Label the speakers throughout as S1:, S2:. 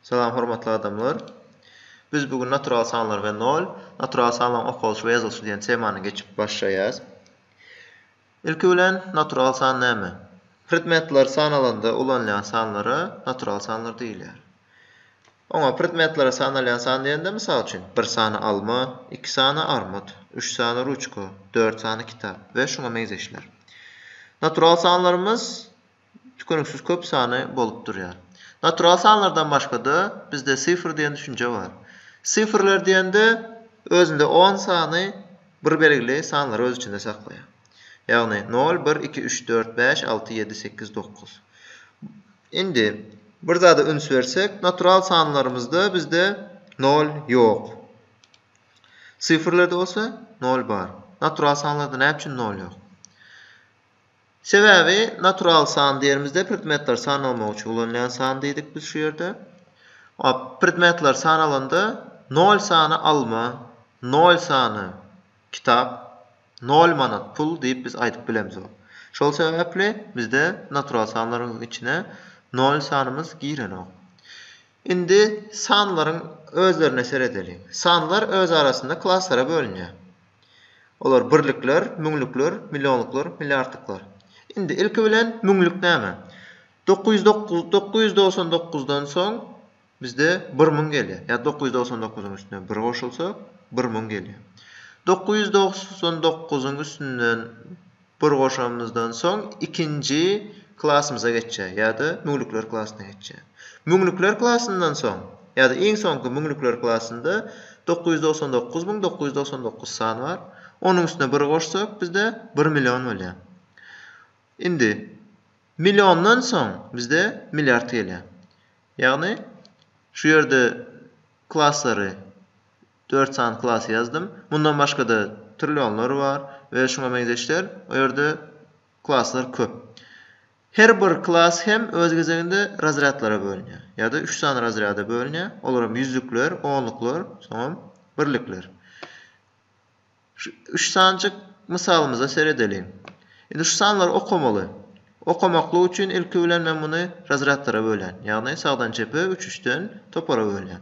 S1: Salam hormatly adamlar. Biz bu gün natural sanlar we nol, natural sanlaryň okalyşy we ýazylyşy diýen temany geçip başlaýas. Ilki bilen natural san näme? Predmetler sanalanda ulanylýan sanlara natural sanlar diýilýär. Oňa predmetlere sanalýan san diýende mysal üçin bir sany alma, iki sany armyt, üç sany ruçka, dört sany kitap we şuňa meňzeşler. Natural sanlarymyz Tükeniksiz köp sany bolup durýar. Natural sanlardan başga-da, bizde sifr diýen düşünje bar. Sifrler diýende, özünde on sany bir belgili sanlary öz içinde saklaýar. Ýagny, nol, bir, iki, üç, dört, bäş, alty, ýedi, sekiz, dokuz. Indi, bir zada üns bersek, natural sanlarymyzda bizde nol ýok. Sifrlerde bolsa nol bar. Natural sanlarda näme üçin nol ýok? Sebäbi natural san diýerimizde predmetleri sanamak üçin ulanylýan san diýdik biz şu ýerde. A predmetleri sanalanda nol sany alma, nol sany kitap, nol manat pul diýip biz aýdyp bilemzok. Şol sebäpli bizde natural sanlaryň içine nol sanymyz girenok. Indi sanlaryň özlerine seredeliň. Sanlar öz arasynda klaslara bölünýär. Olar birlikler, müňlükler, millionluklar, milliardlyklar. Indi, ilki bilen, müňlük näme? Dokuz ýüz dokuz, dokuz ýüz dogsan dokuzdan soň bizde bir müň gelýär. Ýa dokuz ýüz dogsan dokuzyň üstüne bir goşulsa, bir müň gelýär. Dokuz ýüz dogsan dokuzyň üstünden Bir goşamyzdan soň ikinji klasymyza geçýär ýa-da müňlükler klasyna geçýär. Müňlükler klasyndan soň ýa-da iň soňky müňlükler klasynda dokuz ýüz togsan dokuz müň dokuz ýüz togsan dokuz san bar. Onuň üstüne bir goşsak bizde bir million bolýar. Indi milliondan soň bizde milliard gelýär. Ýagny şu ýerde klaslary Dört sany klasy ýazdym. Mundan başga-da trillionlar bar we şuňa meňzeşler. O ýerde klaslar köp. Her bir klas hem öz gezeginde razrýadlara bölünýär. Ýa-da üç sany razrýada bölünýär. Olar hem ýüzlükler, onluklar, soňam birlikler. Şu üç sanjyk mysalymyza seredeliň. Indi şu sanlary okamaly. Okamaklyk üçin ilki bilen men muny razrýadlara bölýän. Ýagny sagdan çepe üç üçden topara bölýän.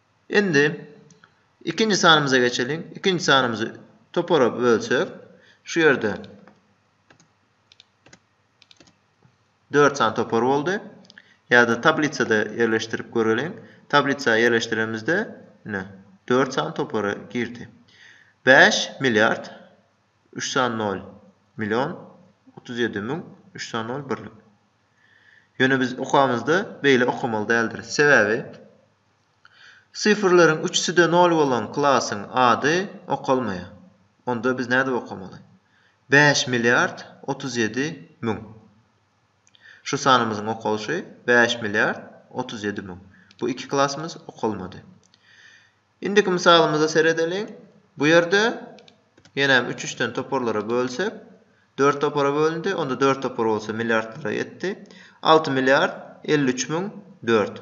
S1: Indi ikinji sanymyza geçeliň. Ikinji sanymyzy topara bölsek, şu ýerde dört sany topar boldy. Ýa-da tablisada ýerleşdirip göreliň. Tablisa ýerleşdiremizde, ine, dört sany topara girdi. Bäş milliard, üç sany nol, million, otuz ýedi müň, üç sany nol, birlik. Ýöne biz okamyzda beýle okamaly däldiris. Sebäbi, Sifrleriň üçüsi-de nol bolan klasyň ady okalmaýar. Onda biz nädip okamaly? Bäş milliard otuz ýedi müň. Şu sanymyzyň okalyşy bäş milliard otuz ýedi müň. Bu iki klasymyz okalmady. Indiki mysalymyza seredeliň. Bu ýerde ýenem üç üçden toparlara bölsek, dört topara bölündi. Onda dört topar bolsa milliardlara ýetdi. Alty milliard elli üç müň dört.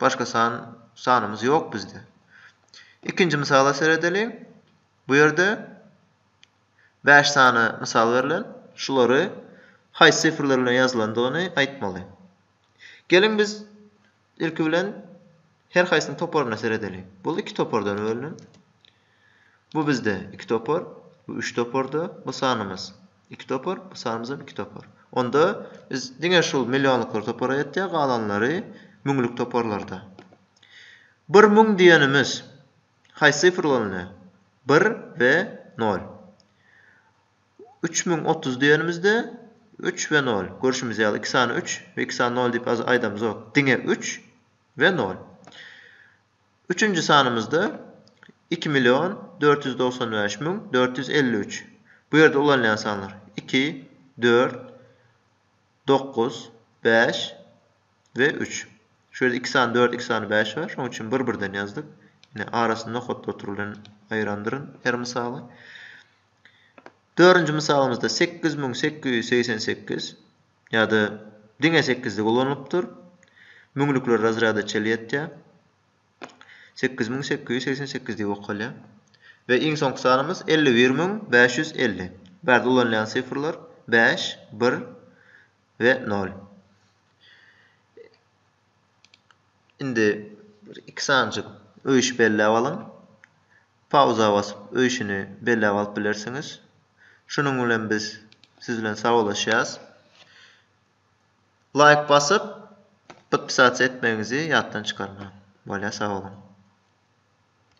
S1: Başga san, sanymyz ýok bizde. Ikinji mysala seredeliň. Bu ýerde bäş sany mysal berlen. Şulary haýsy sifrler bilen ýazylandygyny aýtmaly. Geliň biz ilki bilen her haýsynyň toparyna seredeliň. Bul iki topardan bölünen. Bu bizde iki topar, bu üç toparda bu sanymyz iki topar, bu sanymyzam iki topar. Onda biz diňe şul millionlyklar topara ýetýär, galanlary müňlük toparlarda. Bir müň diýenimiz haýsy sifr bolanda? Bir we nol. Üç müň otuz diýenimizde üç we nol. Görşümiz ýaly, iki sany üç we iki sany nol diýip aýdamyzok. Diňe üç we nol. Üçünji sanymyzda iki million dört ýüz togsan bäş müň dört ýüz elli üç. Bu ýerde ulanylýan sanlar, iki, dört, dokuz, bäş we üç. Şu ýerde iki sany dört, iki sany bäş bar. Şonuň üçin bir-birden ýazdyk. Ine, arasyny nokat gotur bilen aýyrandyryn her mysaly. Dördünji mysalymyzda sekiz müň sekiz ýüz segsen sekiz. ýa-da diňe sekizlik ulanylypdyr. Müňlükler razrýada çel ýetýär. Sekiz müň sekiz ýüz segsen sekiz diýip okalýar. We iň soňky sanymyz elli bir müň bäş ýüz elli. Bu ýerde ulanylýan sifrlar bäş, bir we nol. Indi bir iki sanjyk öýüşip belläp alyň. Pauza basyp öýşüni belläp alyp bilersiňiz. Şunuň bilen biz siz bilen sagalaşýas. Laýk basyp podpisasiýa etmegiňizi ýatdan çykarmaň. Bolýa sag boluň.